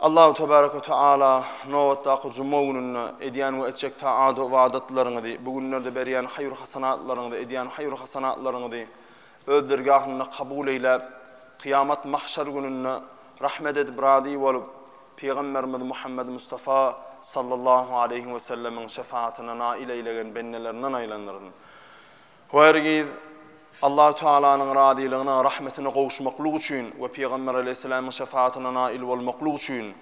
Allahu tebarek we teala nobatdaky juma gününde edýän we etjek taat-u ybadatlaryňyzy, bu günlerde berýän haýyr-hasanatlaryňyzy, edýän haýyr-hasanatlaryňyzy Öz dergahynda kabul eýläp, kyýamat mahşer gününde rahmet edip, razy bolup, Pygamberimiz Muhammed Mustafa sallallahu aleýhi we sellemiň şefaatine nail eýlegen bendelerinden aýlandyrsyn. We hergiz Allahu Tagalanyň razylygyna, rahmetine gowuşmaklyk üçin we Pygamber aleýhissalamyň şefaatine nail bolmaklyk üçin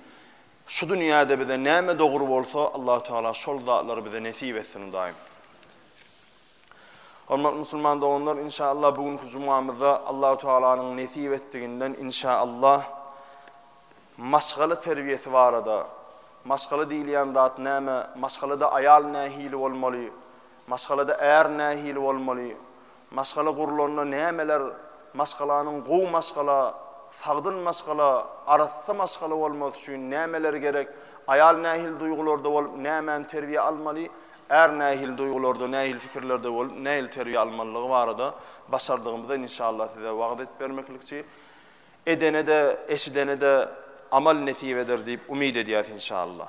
şu dünýäde bize näme dogry bolsa, Allahu Tagala şol zatlary bize nesip etsin, Hudaýym. Hormatly musulman doganlar, inşallah bu günki jumamyzda Allahu Tagalanyň nesip etdiginden inşallah maşgala terbiýesi barada, maşgala diýilýän zat näme, maşgalada aýal nähili bolmaly, Maşgalada är nähili bolmaly? Maşgala gurlanda nämeler Maşgalanyň gowy maşgala, sagdyn maşgala, arassa maşgala bolmasy üçin nämeler gerek? Aýal nähili duýgularda bolup, nämäni terbiýä almaly? Är nähili duýgularda, nähili pikirlerde bolup, nähili terbiýe almalydygy barada başardygymyza inşallah size wagyz edip bermeklikçi. Edene-de, eşidene-de amal nesip eder diýip umyt edýäs inşallah.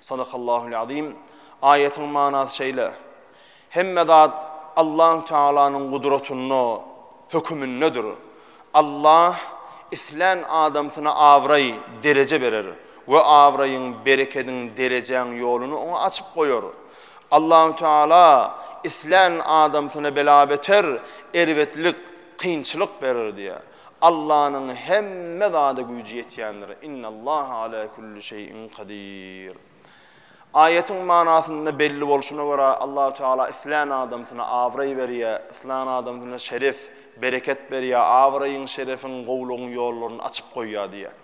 Sadakallahul azim. Aýatyň manasy şeýle, Hemme zat Allahu Tealanyň gudratynda, hökümindedir. Allah islän adamsyna abraý, dereje berer we abraýyň, berekediň, derejäň ýoluny oňa açyp goýar. Allahu Teala islän adamsyna bela-beter, erbetlik, kynçylyk berer diýýär. Allanyň hemme zada güýji ýetýändir. Innallaha ala kulli şeýin kadir. Aýatyň manasynda belli bolşuna görä, Allahu Teala islän adamsyna abraý berýär, islän adamsyna şeref, bereket berýär, abraýyň, şerefiň, gowulygyň ýollaryny açyp goýýar diýýär.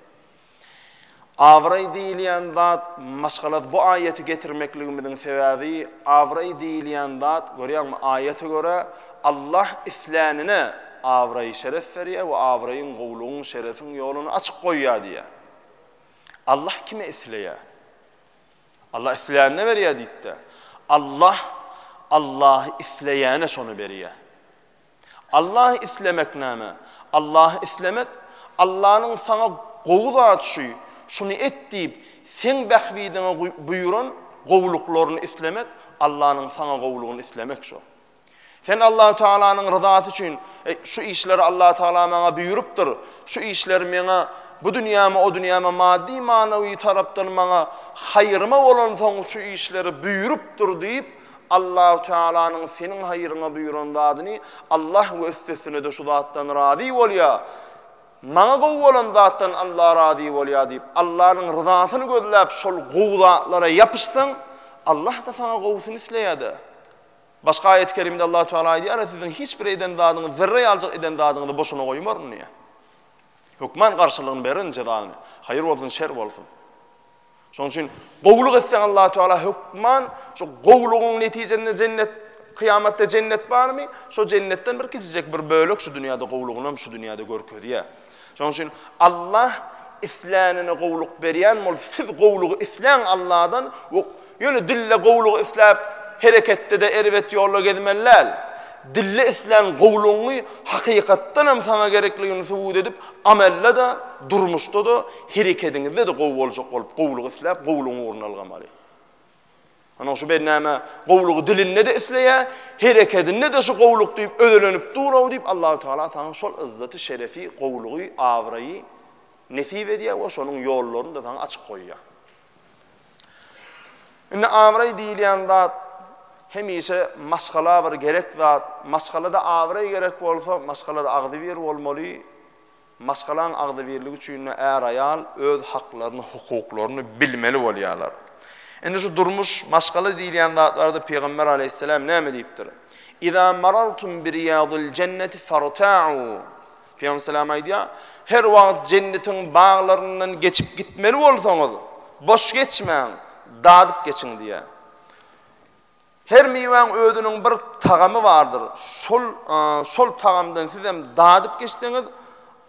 Abraý diýilýän zat, maşgalat bu aýaty getirmekligimiziň sebäbi, abraý diýilýän zat, görýäňmi, aýata görä, Allah islänine abraý-şeref berýär we abraýyň, gowulygyň, şerefiň ýoluny açyk goýýar diýýär. Allah kime isleýär? Allah islänine berýär diýdi-de. Allah Allahy isleýäne şony berýär. Allahy islemek näme? Allahy islemek, Allanyň saňa gowy zat şu, şuny et diýip, seň bähbidiňe buýran gowulyklaryny islemek, Allanyň saňa gowulygyny islemek şu. Sen Allahu Tealanyň ryzasy üçin, eý, şu işleri Allahu Teala maňa buýrupdyr, şu işleri meňe bu dünýäme, o dünýäme maddy-manawy tarapdan maňa haýryma bolansoň şu işleri buýrupdyr diýip, Allahü Tealanyň seniň haýryňa buýran zadyny Allah we üstesine-de şu zatdan razy bolýa, Maňa gowy bolan zatdan Allah razy bolýa diýip, Allanyň ryzasyny gözläp şol gowy zatlara ýapyşsaň, Allah-da saňa gowusyny isleýär-de. Başga aýat-y kerimde Allahü Teala aýdýar-a, Siziň hiç bir eden zadyňyz, zerre ýaljyk eden zadyňyzy boşuna goýmaryn diýýär. Hökman garşylygyny berin, jezasyny. Haýyr bolsun, şer bolsun. Şonuň üçin gowulyk etseň Allahu Teala hökman şu gowulygyň netijesinde jennet kyýamatda jennet barmy? Şo jennetden bir kiçijek bir bölek şu dünýäde gowulygyny hem şu dünýäde görkezýär. Şonuň üçin Allah islänine gowulyk berýän bol, siz gowulygy isläň Allahdan we ýöne dille gowulygy isläp hereketde-de erbet ýolda gezmeli däl. Dille islän gowulygyňy hakykatdan hem saňa gerekligini subut edip, amelde-de, durmuşda-da Herekediňizde-de gowy boljak bolup, gowulygy isläp, gowulygyň ugruna ylgamaly. Ynha, şu bennäme gowulygy dilinde-de isleýär, herekedinde-de şu gowulyk diýip özelenip dur-ow diýip, Allahu tagala saňa şol ýzzaty, şerefi, gowulygy, abraýy nesip edýär we şonuň ýollaryny-da saňa açyp goýýar. Indi abraý diýilýän zat hemişe maşgala bir gerek zat. Maşgalada abraý gerek bolsa, maşgalada agzybir bolmaly. Maşgalaň agzybirligi üçin-de är-aýal öz haklaryny, hukuklaryny bilmeli bolýarlar. Indi şu durmuş, maşgala diýilýän zatlarda Pygamber aleýhisselam näme diýipdir? Iza marartum bi riýadil jenneti farta'u. Pygamber selam aýdýar, Her wagt jennetiň baglaryndan geçip gitmeli bolsaňyz, boş geçmäň, dadyp geçiň diýýär. Her miwäň özüniň bir tagamy bardyr. Şol şol tagamdan sizem dadyp geçseňiz,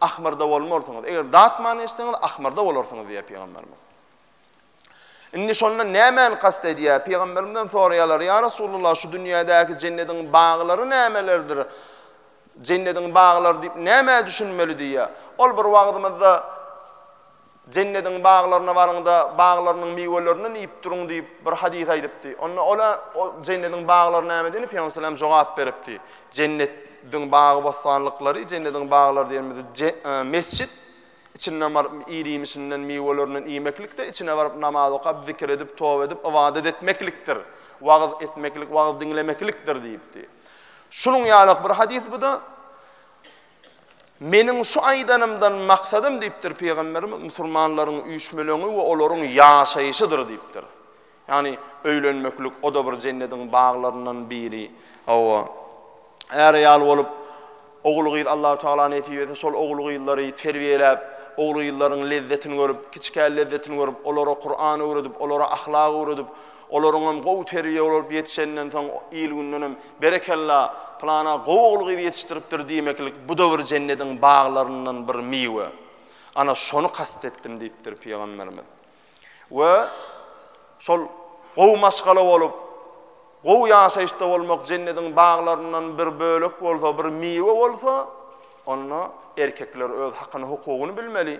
ahmyrda bolmarsyňyz. Eger datman geçseňiz, ahmyrda bolarsyňyz diýýär Pygamberimiz. Indi şondan nämäni kast edýär? Pygamberimizden soraýarlar, ýa Resulullah, şu dünýädäki jennediň baglary nämelerdir? Jennediň baglary diýip nämä düşünmeli diýýär. Ol bir wagtymyzda Jennediň baglaryna baryň-da, baglarynyň miwelerinden iýip duruň diýip, bir hadys aýdypdy. Onda ola, O jennediň baglary näme diýende, Pygamber salam jogap beripdi, Jennet diň bagy-bossanlyklary, jennediň baglary diýenimiz je, e, mesjit, içinden baryp ir-iýmişinden, miwelerinden iýmeklik-de, içine baryp namaz okap, zikir edip, toba edip, ybadat etmeklikdir. Wagyz etmeklik, wagyz diňlemeklikdir diýipdi. Şunuň ýaly-ak bir hadys bu-da. Meniň şu aýdanymdan maksadym diýipdir Pygamberimiz, musulmanlaryň üýşmeleňi we olaryň ýaşaýşydyr diýipdir. Ýagny öýlenmeklik o-da bir jennediň baglaryndan biri. Hawa, är-aýal bolup, ogul-gyz Allahu tagala nesip etse şol ogul-gyzlary terbiýeläp, ogul-gyzlaryň lezzetini görüp, kiçikä lezzetini görüp, olara Kuran öwredip, olara ahlak öwredip, Olaryňam gowy terbiýe bolup ýetişenden soň il-gündenem Berekella, pylana gowy ogul-gyz ýetişdiripdir diýmeklik bu-da bir jennediň baglaryndan bir miwe. Ana, şony kast etdim diýipdir pygamberimiz. We şol gowy maşgala bolup, gowy ýaşaýyşda bolmak jennediň baglaryndan bir bölek bolsa, bir miwe bolsa, onda erkekler öz hakyny-hukugyny bilmeli.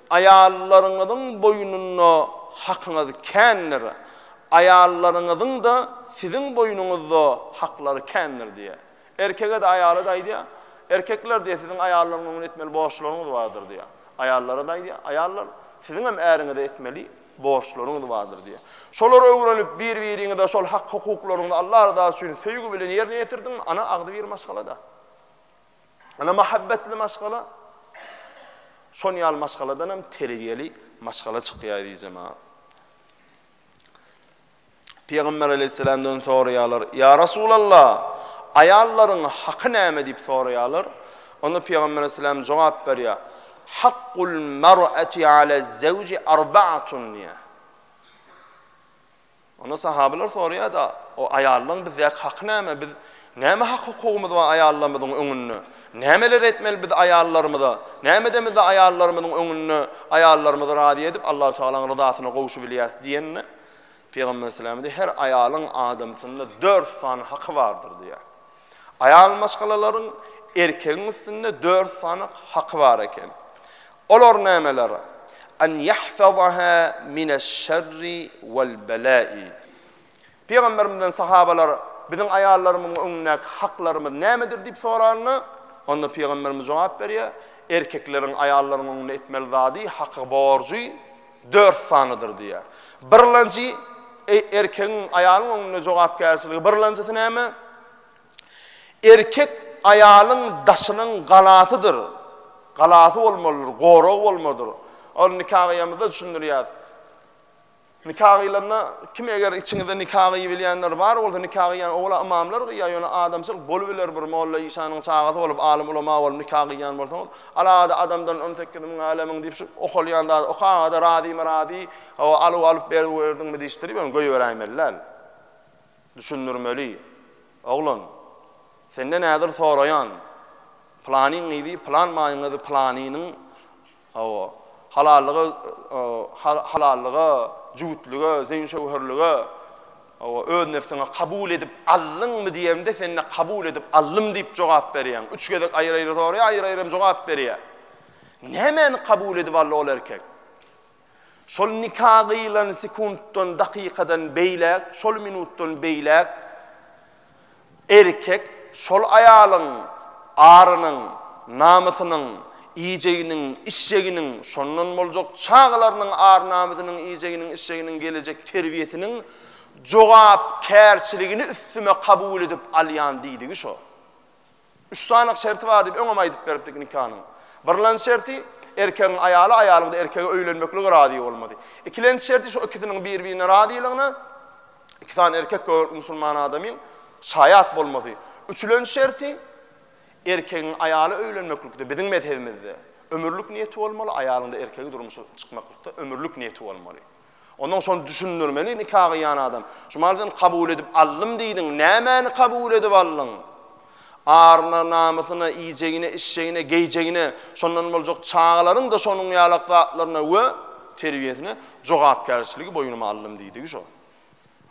Aýallaryňyzyň boýnunda hakyňyz kändir, aýallaryňyzyň-da siziň boýnuňyzda haklary kändir diýýär. Erkege-de, aýala-da aýdýar, Erkekler diýýär, siziň aýallaryň öňünde etmeli borçlaryňyz bardyr diýýär. Aýallara-da aýdýar, Aýallar, siziň hem äriňize etmeli borçlaryňyz bardyr diýýär. Şolary öwrenip, bir-biriňize şol hak-hukuklaryňyzy Allah rydasy üçin söýgi bilen ýerine ýetirdiňmi, ana agzybir maşgala-da. Ynha mahabbetli maşgala şon ýaly maşgaladan hem terbiýeli maşgala çykýar diýjema. Pygamber aleyhisselamdan soraýarlar. Ya Resulallah, aýallaryň haky näme diýip soraýarlar. Onda Pygamber aleyhisselam jogap berýär. Hakkul mar'ati ala zevci arba'atun diýär. Onda sahabylar soraýar-da, O aýallaryň bizdäki haky näme? Biz näme hak-hukugymyz bar aýallarymyzyň öňünde? Nämeler etmeli biz aýallarymyza? Näme edemizde aýallarymyzyň öňünde aýallarymyzy razy edip, Allahu tagalaň ryzasyna gowuşybilýäris? diýende, Pygamber sallallahu aleýhi we sellem aýdyp, Her aýalyň adamsynda dört sany haky bardyr diýýär. Aýal maşgalalaryň erkegiň üstünde dört sany haky bar eken. Olar nämeler? An ýahfazaha mineş-şerri wal-belâi. Pygamberimizden sahabalar, Biziň aýallarymyň öňündäki haklarymyz nämedir diýip soranda, onda Pygamberimiz jogap berýär, Erkekleriň aýallaryň öňünde etmeli zady, haky, borjy, Dört sanydyr diýýär. Birlenji, Eý, erkegiň aýalyň öňünde jogapkärçiligi birlenjisi näme? Erkek aýalyň daşynyň galasydyr. Galasy bolmalydyr, goragy bolmalydyr. Ol nika gyýamyzda düşündirýär. Nika gyýlanda kim eger içiňizde nika gyýybilýänler bar bolsa nika gyýýan owala ymamlar gyýýar ýöne adamçylyk bolubiler bir molla işanyň çagasy bolup alym ulama bolup nika gyýýan bolsaňyz Alada adamdan on sekiz müň älemiň diýip şu okalýan zady okaňada razymy razy hawa alyp alyp berwerdiňmi diýişdirip ony goýberäýmeli däl. Düşündirmeli. Oglan. Senden häzir soraýan. Planyň gyzy plan maýyň gyzy planynyň hawa halallyga halallyga jübütlige zeýin şöwherlige Hawa, öz nebsiňe kabul edip aldyňmy diýemde sen-de kabul edip aldym diýip jogap berýäň. Üç gezek aýry-aýry soraýar, aýry-aýry hem jogap berýär. Nämäni kabul edip aldy ol erkek? Şol nika gyýlan sekuntdan, dakykadan beýläk, şol minutdan beýläk Erkek şol aýalyň arynyň, namysynyň iýjeginiň, içjeginiň, şondan boljak çagalarynyň ar-namysynyň, iýjeginiň, içjeginiň, gelejek terbiýesiniň jogapkärçiligini üstüme kabul edip alýan diýdigi şo. Üç sanyk şerti bar diýip öňem aýdyp beripdik nikanyň. Birlenji şerti, erkegiň aýaly, aýalyň-da erkege öýlenmeklige razy bolmaly. Ikilenji şerti şo ikisiniň bir-birine razylygyna iki sany erkek gögerlik musulman adamyň şaýat bolmasy. Üçülenji şerti, erkegiň aýaly öýlenmeklikde, biziň mezhebimizde, ömürlik niýeti bolmaly, aýalyň-da erkege durmuşa çykmaklykda ömürlik niýeti bolmaly. Ondan şony düşündirmeli nika gyýan adam. Şumal sen kabul edip aldym diýdiň, nämäni kabul edip aldyň? Aryna, namysyna, iýjegine, içjegine, geýjegine, şondan boljak çagalaryň-da şonuň ýalak zatlaryna we terbiýesine jogapkärçiligi boýnuma aldym diýdigi şo.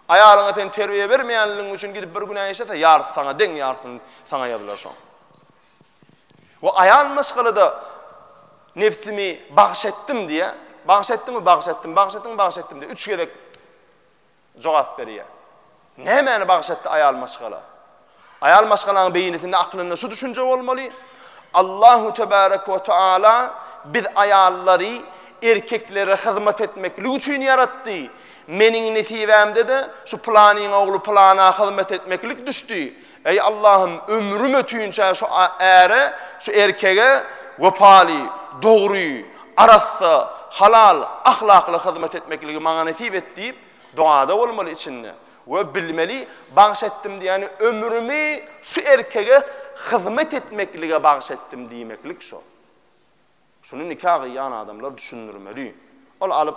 Aýalyňa sen terbiýe bermeýänligiň üçin gidip bir günä işlese, ýarysy saňa deň, ýarysyny saňa ýazylar şoň. We aýal maşgalada nebsimi bagş etdim diýýär. Bagş etdiňmi? Bagş etdim. Bagş etdiňmi? Bagş etdim diýip üç gezek jogap berýär. Nämäni bagş etdi aýal maşgala? Aýal maşgalaň beýnisinde aklynda şu düşünje bolmaly. Allahu tebarek we taala biz aýallary erkeklere hyzmat etmeklik üçin ýaratdy. Meniň nesibämde-de şu planyň ogly plana hyzmat etmeklik düşdi. Eý Allahym ömrüm ötünçä şu äre, şu erkege wepaly, dogry, arassa, halal, ahlakly hyzmat etmekligi maňa nesip et diýip dogada bolmaly içinde we bilmeli bagş etdim diýýäni ömrümi şu erkege hyzmat etmeklige bagş etdim diýmeklik şo. Şuny nika gyýan adamlar düşündirmeli. Ol alyp,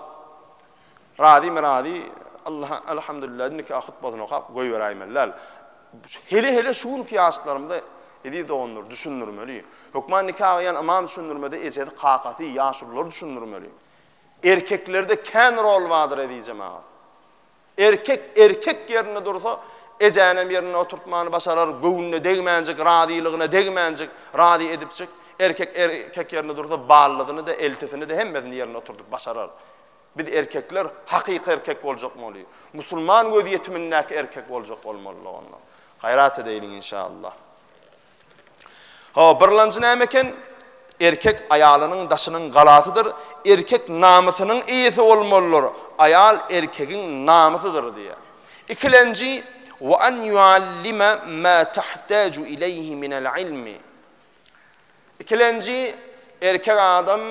razymy razy, Allaha Elhamdülillah diýip nika hutbasyny okap goýberäýmeli däl. Hele-hele şu günki ýaşlarymyza eziz doganlar düşündirmeli. Hökman nika gyýan ymam düşündirmede ejesi, kakasy, ýaşulylar düşündirmeli. Erkeklerde kän rol bardyr eziz jemagat. Erkek erkek ýerinde dursa, ejänem ýerinde oturtmany başarar, göwnüne degmänjik, razylygyna degmänjik, razy edipjik, erkek erkek ýerinde dursa, ballysyny-da, eltisini-de, hemmesini ýerinde oturdyp başarar. Biz erkekler hakyky erkek boljakmaly. Musulman göz ýetimindäki erkek boljak bolmalydyk onda. Gaýrat edeýliň inşallah. Hawa, birlanjy näme eken? Erkek aýalynyň daşynyň galasydyr, erkek namysynyň eýesi bolmalydyr, aýal erkegiň namysydyr diýýär. Ikilenji, Wa an yuallime ma tahtaju ileýhi minel ilmi. Ikilenji, erkek adam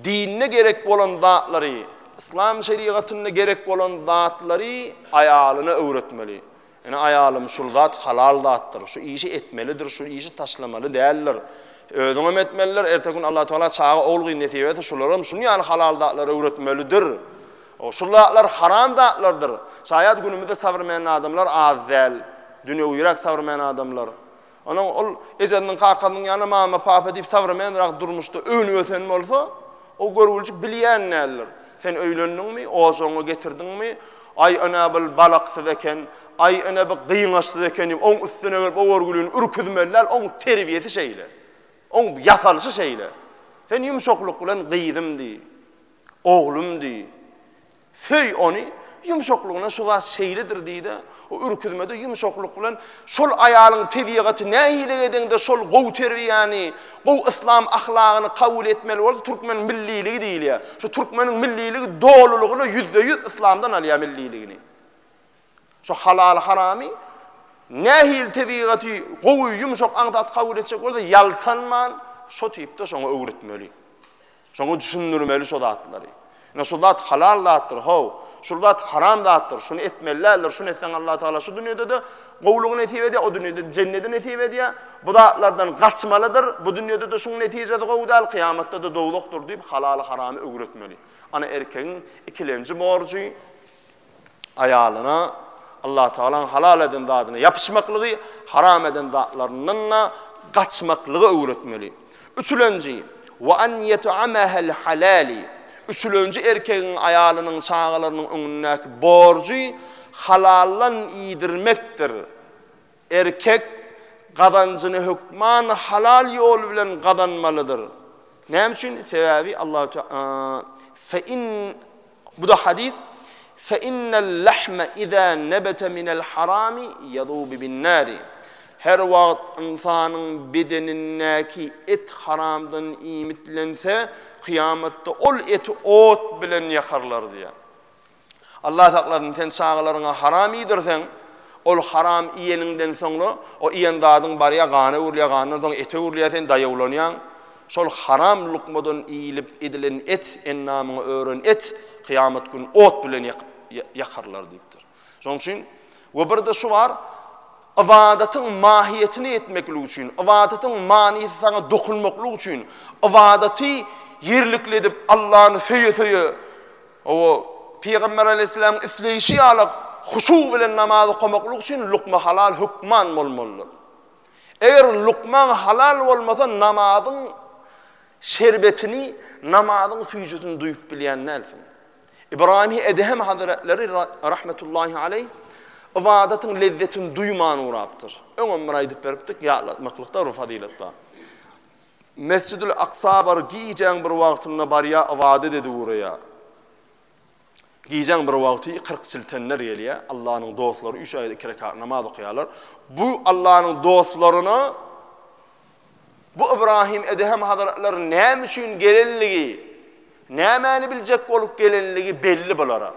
dinde gerek bolan zatlary, yslam şerigatynda gerek bolan zatlary aýalyna öwretmeli. Ine, aýalym, şul zat halal zatdyr, şu işi etmelidir, şu işi taşlamaly däldir. Özüňem etmelidir, erteki gün Allatagala çaga, ogul-gyz nesip etse, şularam şunuň ýaly halal zatlary öwretmelidir. Şul zatlar haram zatlardyr. Şaýat günümizde sabrmen adamlar az däl. Dünýewiräk sabrmen adamlar. Onuň ol ejesiniň, kakasynyň ýaly mama, papa diýip sowremenrak durmuşda önüp-ösen bolsa, o görgüljik bilýän däldir. Sen öýlendiňmi, ojagyňy getirdiňmi, Aý, ene, bul balaksyz eken, Aý, ene, bu gyňaçsyz eken diýip, oň üstüne gelip o görgülini ürküzmeli däl, oň terbiýesi şeýle. Oň ýasalyşy şeýle. Sen ýumşaklyk bilen gyzym diý, oglum diý. Söý ony, ýumşaklygyna şu zat şeýledir diý-de, o ürküzmede ýumşaklyk bilen şol aýalyň tebigaty nähili edeňde şol gowy terbiýäni, gowy yslam ahlagyny kabul etmeli bolsa türkmeniň milliligi diýilýär. Şu türkmeniň milliligi dolulygyna ýüzde-ýüz yslamdan alýar milliligini. Şu halaly-haramy nähili tebigaty gowy, ýumşak aňsat kabul etjek bolsa ýaltanman şo tipde şoňa öwretmeli. Şoňa düşündirmeli şo zatlary. Ine şu zat halal zatdyr, how, şul zat haram zatdyr, şuny etmeli däldir, şuny etseň Allah Tagala şu dünýede-de gowulygy nesip edýär, o dünýede jennedi nesip edýär, bu zatlardan gaçmalydyr, bu dünýede-de şuň netijesi gowy däl, kyýamatda-da dowzahdyr diýip halaly haramy öwretmeli. Ana erkegiň ikilenji borjy. aýalyna Allatagalaň halal eden zadyna ýapyşmaklygy, haram eden zatlaryndan-da gaçmaklygy öwretmeli. Üçülenji, we an ýet'amahal halali. Üçülenji erkegiň aýalynyň çagalarynyň öňündäki borjy halaldan iýdirmekdir. Erkek gazanjyny hökman halal ýol bilen gazanmalydyr. Näme üçin? Sebäbi Allahu Teala fe in bu-da hadys fe innel lahma iza nabata minel harami yazubu bin nari. Her wagt ynsanyň bedenindäki et haramdan iýmitlense, kyýamatda ol eti ot bilen ýakarlar diýýär. Allah saklasyn, sen çagalaryňa haram iýdirseň, ol haram iýeniňden soňra, o iýen zadyň barýar, gana öwrülýär, gandan soň ete öwrülýär, sen daýawlanýaň. Şol haram lukmadan iýlip edilen et, endamyňy ören et, kyýamat gün ot bilen ýakyp, ýakarlar diýipdir. Şonuň üçin, we bir-de şu bar, ybadatyň mahiýetini etmeklik üçin, ybadatyň manysy saňa dokunmaklyk üçin, ybadaty ýerlikli edip, Allany söýe-söýe, O, Pygamber aleýhissalamyň isleýşi ýaly huşu bilen namaz okamaklyk üçin lukma halal hökman bolmalydyr. Eger lukmaň halal bolmasa namazyň şerbetini, namazyň süýjüsini duýup bilýän dälsiň. Ybraýymy Edehem hazretleri rahmetullahi aleýh ybadatyň lezzetini duýman ugrapdyr. Öňem bir aýdyp beripdik, ýatlatmaklykda bir fazylet bar. Mesjidül Aksa bar gijäň bir wagtynda barýa ybadat edip ugraýa. Gijäň bir wagty kyrk çiltenler gelýä, Allanyň dostlary üç aýda iki rekat namaz okaýarlar. Bu Allanyň dostlaryna bu Ybrahym Edehem hazretleri näme üçin gelenligi, nämäni biljek bolup gelenligi belli bulara.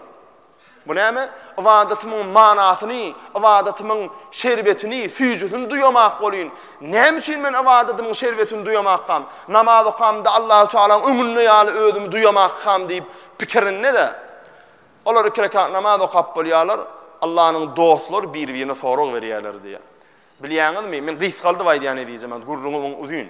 Bu näme? Ybadatymyň manasyny, ybadatymyň şerbetini, süýjüsini duýamak bolýyn. Näme üçin men ybadatymyň şerbetini duýamakkam? Namaz okamda Allahü Tagalaň öňünde ýaly özümi duýamakkam diýip pikirinde-de, olar iki rekat namaz okap bolýarlar, Allanyň dostlary bir-birine sorag berýärler diýýär. Bilýäňizmi, men gysgaldyp aýdýan eziz jemagat, gürrüňim uzyn.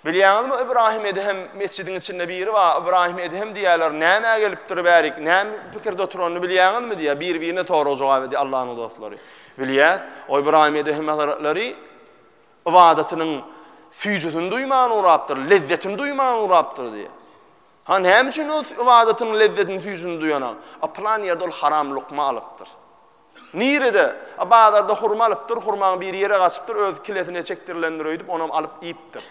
Bilýäňizmi, Ybraýym Edhem mesjidiň içinde biri bar, Ybraýym Edhem diýýärler, nämä gelipdir bärik, näme pikirde oturanyny bilýäňizmi diýýär, biri-birine sorag jogap edýär Allanyň dostlary. Bilýäs, o Ybraýym Edhem hazretleri ybadatynyň süýjüsini duýman urapdyr, lezzetini duýman urapdyr diýýär. Ha näme üçin ol ybadatynyň lezzetini süýjüsini duýanak? A pylan ýerde ol haram lukma alypdyr. Nirede? A bazarda hurma alypdyr, hurmaň biri ýere gaçypdyr, öz kilesine çekdirilendir öýdüp, onam alyp iýipdir.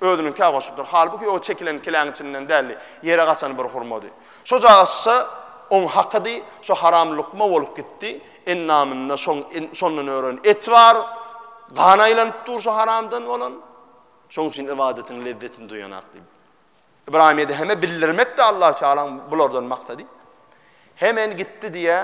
Özüniňkä goşupdyr. Halbuki o çekilen kiläň içinden däldi, ýere gaçan bir hurmady. Şojagazça oň hakydy, şo haram lukma bolup gitdi. Endamynda şoň şondan ören et bar. Gan aýlanyp dur şo haramdan bolan. Şoň üçin ybadatyň lezzetini duýanak diýip. Ybraýym Edheme bildirmekdi Allahu Tealaň bulardan maksady. Hemen gitdi diýä,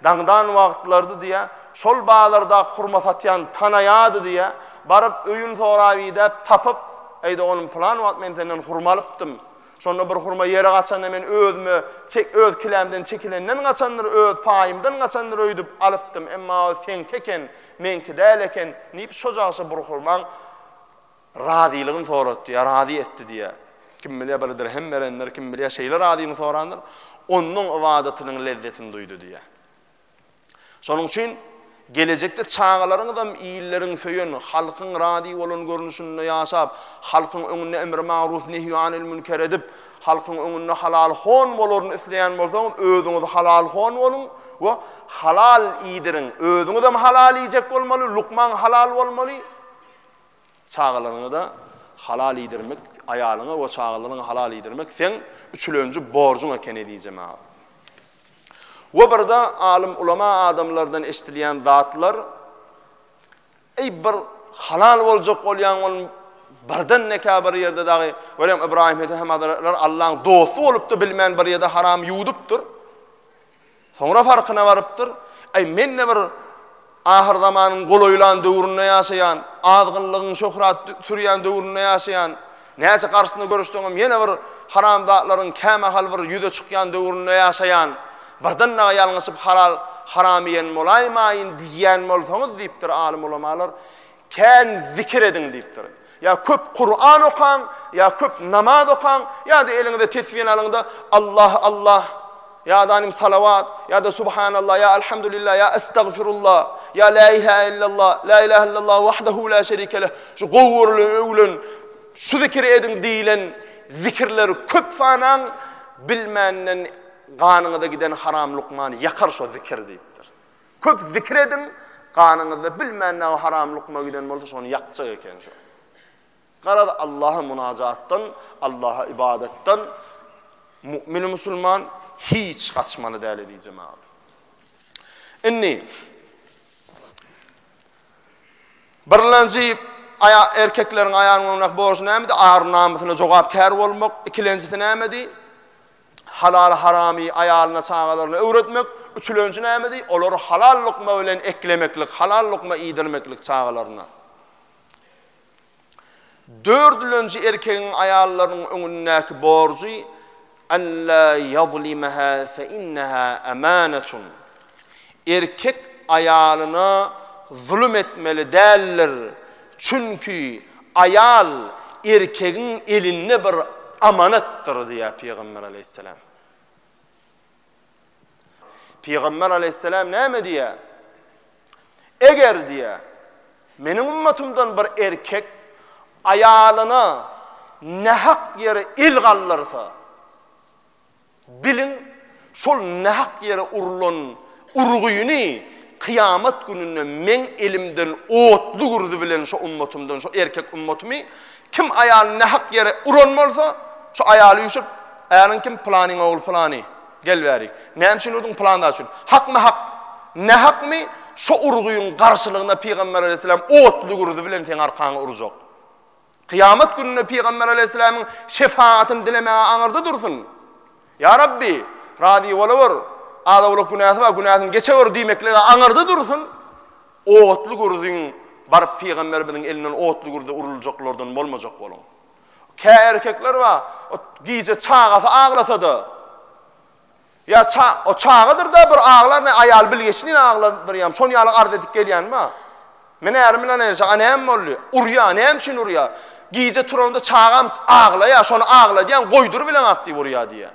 daňdan wagtlardy diýä, şol bazarda hurma satýan tanaýady diýä, baryp öýün sorap idäp tapyp, Eýde oglum plan wagt men senden hurma alypdym. Şonda bir hurma ýere gaçanda men özüme çek öz kilämden çekilenden gaçandyr, öz paýymdan gaçandyr öýdüp alypdym. Emma o seňki eken, meňki däl eken diýip şojagça bir hurmaň Razylygyny soratdy ýa razy etdi diýýär. Kim bilýär, bir dirhem berendir, kim bilýär, şeýle razylygyny sorandyr, Onuň ybadatynyň lezzetini duýdy diýýär. Şonuň üçin gelejekde çagalaryňyzam illeriň söýen, halkyň razy bolan görnüşinde ýaşap, halkyň öňünde emri magruw, nehýu anil münker edip, halkyň öňünde halal hon bolaryny isleýän bolsaňyz, özüňiz halal hon boluň we halal iýdiriň. Özüňizem halal iýjek bolmaly, lukmaň halal bolmaly. Çagalaryňy-da halal iýdirmek, aýalyňy we çagalaryňy halal iýdirmek seň üçlenji borjuň eken ezizem aga. We birde alym ulama adamlardan eşdilýän zatlar, Eý bir halal boljak bolýaň ol birden nekä bir ýerde dagy, görýäň Ybraýym Edehem hazretler Allaň dosty bolup-da bilmän bir ýerde haram ýuwudypdyr. Soňra farkyna barypdyr, Äý, men-de bir ahyrzamanyň golaýlan döwründe ýaşaýan, azgynlygyň şöhrat sürýän döwründe ýaşaýan, näçe garşysyna göreşseňem ýene bir haramzatlaryň kämahal bir ýüze çykýan döwründe ýaşaýan, birden dagy ýalňyşyp halal, haram iýen bolaýmaýyn diýýän bolsaňyz diýipdir alym-ulamalar. Kän zikir ediň diýipdir. Ýa köp Kuran okaň, ýa köp namaz okaň, ýa-da eliňize tesbini alyň-da, Allah, Allah, ýa-da anym salawat, ýa-da subhanallah, ýa alhamdulillah, ýa estagfirullah, ýa la ilahe illallah, la ilahe illallah wahdahu la şerike leh, şu gowy görülen, öwülen, şu zikiri ediň diýilen zikirleri köp sanaň, bilmänden ganyňyza giden haram lukmany ýakar şo zikir diýipdir. Köp zikir ediň, ganyňyzda bilmän näme haram lukma giden bolsa şony ýakjak eken şu. Garaz Allaha munajatdan, Allaha ybadatdan mu'min musulman hiç gaçmaly däl edi jemagat. Indi Birlenji aya erkekleriň aýanyň öňündäki borjy nämedi? Ar namysyna jogapkär bolmak. Ikilenjisi nämedi? Halal-haramy aýalyna-çagalaryna öwretmek, üçülenji nämedi? Olary halal lukma bilen eklemeklik, halal lukma iýdirmeklik çagalaryna. Dördülenji erkegiň aýallarynyň öňündäki borjy, Alla ýazlimaha fe inneha amanatun. Erkek aýalyna zulum etmeli däldir, çünki aýal erkegiň elinde bir amanatdyr diýýär Pygamber aleýhissalam. Pygamber aleýhissalam näme diýýär? Eger diýýär, meniň ümmetümden bir erkek aýalyna nähak ýere el galdyrsa, Biliň, şol nähak ýere urlan urgyny kyýamat gününde Meň elimden otly gürzi bilen şo ummatymdan, şo erkek ummatymy, kim aýalyny nähak ýere uran bolsa, şo aýaly üýşüp, Äriň kim? Pylanyň ogly pylany. Gel bäri. Näme üçin urdyň? Pylany-da üçin. Hakmy hak? Nähakmy? Şo urgyň garşylygyna Pygamber alaýhyssalam otly gürzi bilen seň arkaňy urjak. Kyýamat gününe Pygamber aleýhissalamyň şefagatyny dilemäge aňyrda dursun. Ýa Rabbi, razy bolawor, az-owlak günäsi bar, günäsini geçewor diýmeklige aňyrda dursun. Otly gürziň baryp Pygamberimiziň elinden otly gürze uruljaklardan bolmajak boluň. Kä erkekler bar, gije çagasy aglasa-da, Ýa ça, o çagadyr-da bir aglar ne aýaly bilgeşlin agladyr ýam şon ýaly arz edip gelýänmi-a? Men ärim bilen enşa, a näme boldy? Urýa, näme üçin urýa? Gije turamda çagam aglaýa, şony agladýan, goýdur bileňak diýip urýa diýä.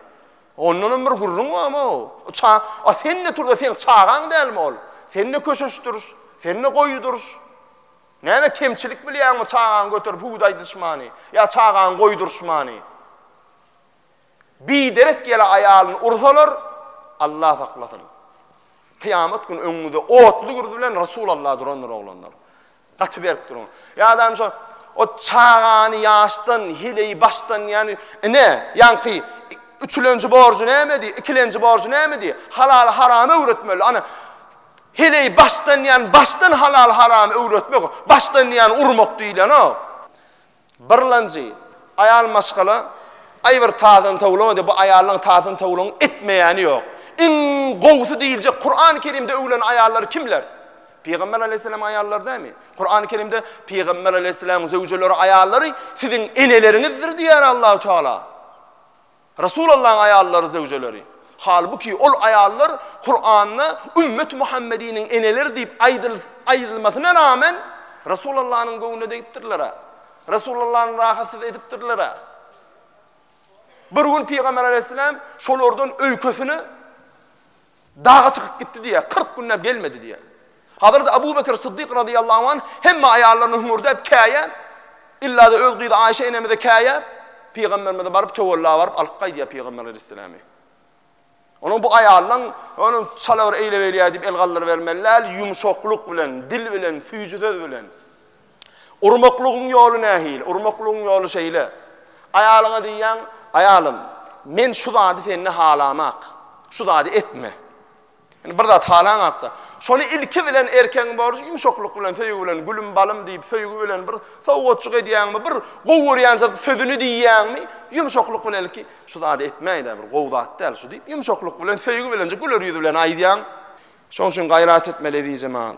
Ondanam bir gürrüň bam-ow. O ça, a sen-de tur-da seň çagaň dälmi ol? Sen-de köşeşdir, sen-de goýdur. Näme kemçilik bilýäňmi çagaňy göterip hüwdi aýdyşmany, ýa çagaňy goýdurşmany? Biderek ýele aýalyny ursalar, Allah saklasyn. Kyýamat güni öňüňizde otly gürzi bilen Resul Allah durandyr oglanlar. Gaty berk duruň. Ýadam şo o çagany ýaşdan, hileyi başdan ýany ine ýanky üçülenji borjy näme diý, ikilenji borjy näme diý? Halal haram öwretmeli. Ana hileyi başdan ýan başdan halal haram öwretmek, başdan ýan urmak diýlen o. Birlanjy, aýal maşgala, Aý bir tazany towlamadyk, bu aýallaň tazany towlagyň etmeýäni ýok. Iň gowusy diýiljek Kurany Kerimde öwlenen aýallar kimler? Pygamber aleýhissalam aýallar dämi? Kurany Kerimde Pygamber aleýhissalam zöwjeleri aýallary siziň eneleriňizdir diýýär Allahu Teala. Resulallahyň aýallary, zöwjeleri. Halbuki, ol aýallar Kuranda Ümmet Muhammediniň eneleri diýip aýdylmasyna ramen, Resulallanyň göwnüne degipdirler-ä. Resulallany rahatsyz edipdirler-ä. Bir gün Pygamber alaýhyssalam şolardan öýkesine Daga çykyp gitdi diýýär, kyrk günläp gelmedi diýýär. Hazreti Abu Bekr Syddyk razyýallahu anh hemme aýallaryna hüňürdäp käýäp, illa-da öz gyzy Aýşe enemize käýäp, pygamberimize baryp töwella baryp alyp gaýdýar pygamber aleýhissalamy. Onuň bu aýallaň ony çala bir eýle-beýle diýip el galdyrybermeli däl, ýumşaklyk bilen, dil bilen, süýji söz bilen. Urmaklygyň ýoly nähili? Urmaklygyň ýoly şeýle. Aýalyňa diýýäň, Aýalym, men şu zady sende halamak. Şu zady etme. Ýani bir zat halaňakda, şony ilki bilen erkegiň borjy ýumşaklyk bilen, söýgi bilen, gülüm, balym diýip, söýgi bilen bir sowgatjyk edýäňmi, bir gowy görýän sözüni diýýäňmi, ýumşaklyk bilen ilki, Şu zady etmäý-dä, bir gowy zat däl şu diýip, ýumşaklyk bilen, söýgi bilenjik güler ýüz bilen aýdýaň. Şonuň üçin gaýrat etmeli, ezizjemal.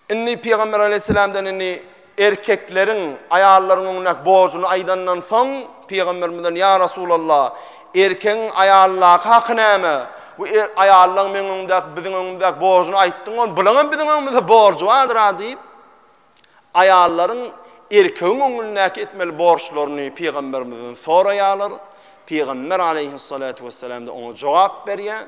Indi Pygamber aleýhissalamdan indi erkekleriň aýallaryň öňündäki borjuny aýdandan soň, Pygamberimizden, Ýa Resulallah, erkegiň aýaldaky haky näme? Bu aýallaň meň öňümdäki, biziň öňümizäki borjuny aýtdyň ol, bulaň hem biziň öňümizde borjy bardyr-a diýip, aýallaryň erkegiň öňündäki etmeli borçlaryny Pygamberimizden soraýarlar. Pygamber aleýhissalatu wessalam-da oňa jogap berýär.